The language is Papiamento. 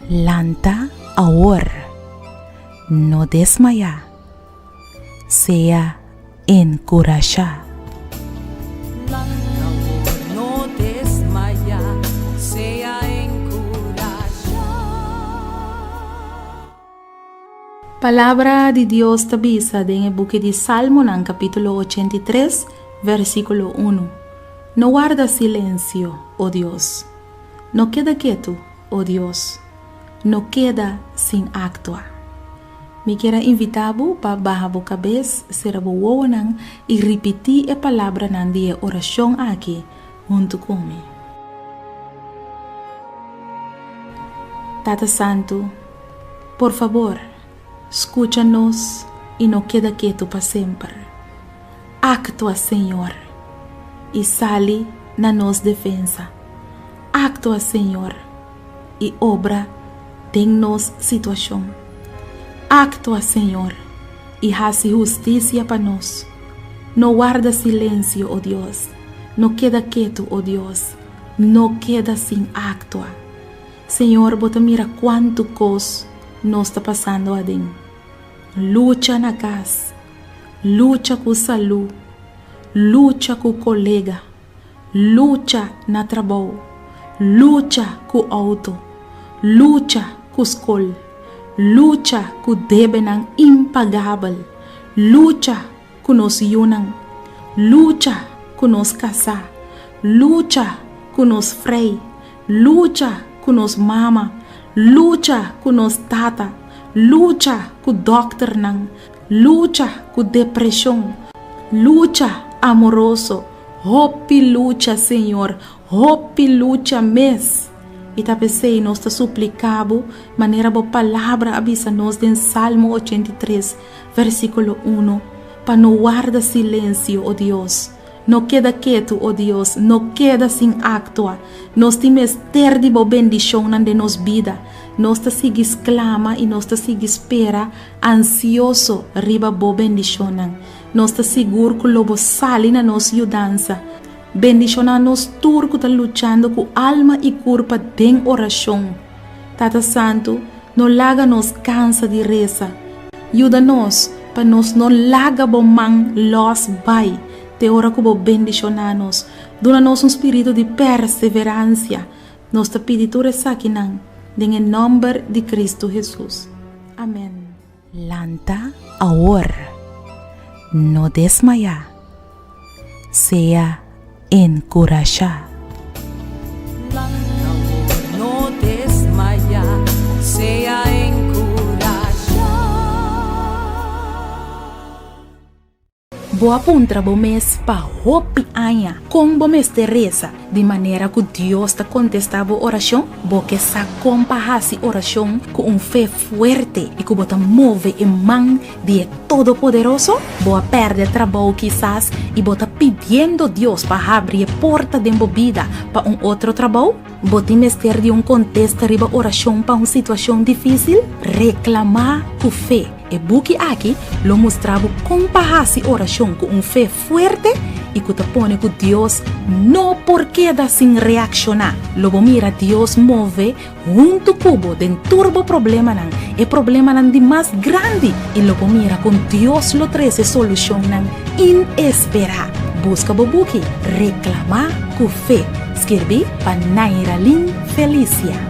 Lanta awor, no desmaya. sea enkurashá. Palabra di Dios ta bisa den e buki di Salmonan kapítulo ochenta i tres, vèrsikulo unu, No warda silensio, O Dios! No keda ketu, O Dios! No keda sin aktua! Mi kier a invitá bo pa baha bo kabes, sera bo wowonan i ripití e palabranan di e orashon akí huntu ku mi. Tata Santu, por fabor, skucha nos i no keda ketu pa semper. Aktua, Señor, i sali na nos defensa. Aktua, Señor. i obra den nos situashon. Aktua, Señor, i hasi hustisia pa nos. No warda silensio, o Dios. No keda ketu, o Dios. No keda sin aktua. Señor, bo ta mira kuantu kos nos ta pasando aden. Lucha na kas. Lucha ku salú. Lucha ku kolega. lucha na trabou, lucha ku outo, lucha ku skol, lucha ku debenan impagabel, lucha ku nos yunan, lucha ku nos kasá, lucha ku nos frei, lucha ku nos mama, lucha ku nos tata, lucha ku dòkternan, Lucha ku depreshon. Lucha amoroso. Hopi lucha, Señor. Hopi lucha mes. I ta p'esei nos ta supliká Bo, manera Bo Palabra a bisa nos den Salmo ochenta i tres, versíkulo unu, pa no warda silensio, o Dios. No keda ketu, o Dios. No keda sin aktua. Nos tin mester di Bo bendishonnan den nos bida. Nos ta sigui sklama i nos ta sigui spera. Ansioso riba bo bendishonnan. Nos ta sigur ku lo bo sali na nos yudansa. Bendishona anos tur ku ta luchando ku alma i kurpa den orashon. Tata Santu, no laga nos kansa di resa. Yuda nos pa nos no laga bo man lòs bai te ora ku bo bendishona nos. Duna nos un spiritu di perseveransia. Nos ta pidi tur esakinan den e nòmber di Kristu Hesus. Amèn. Lanta awor, no desmayá, sea enkurashá. Bo a puntra bo mes pa hopi aña kon bo mester resa di manera ku Dios ta kontestá bo orashon? Bo ke sa kon pa hasi orashon ku un fe fuerte i ku bo ta move e man di e Todopoderoso? Bo a pèrdè trabou kisas i bo ta pidiendo Dios pa habri e porta den bo bida pa un otro trabou? Bo tin mester di un kontesta riba orashon pa un situashon difísil? Reklamá ku fe. E buki aki lo mustra bo kon pa hasi orashon ku un fe fuerte i ku ta pone ku Dios no por keda sin reakshoná. Lo bo mira Dios move huntu ku bo den tur bo problemanan, e problemanan di mas grandi, i lo bo mira kon Dios lo trese solushonnan inesperá. Buska bo buki Reklamá ku fe. Skirbi pa Nairalin Felicia.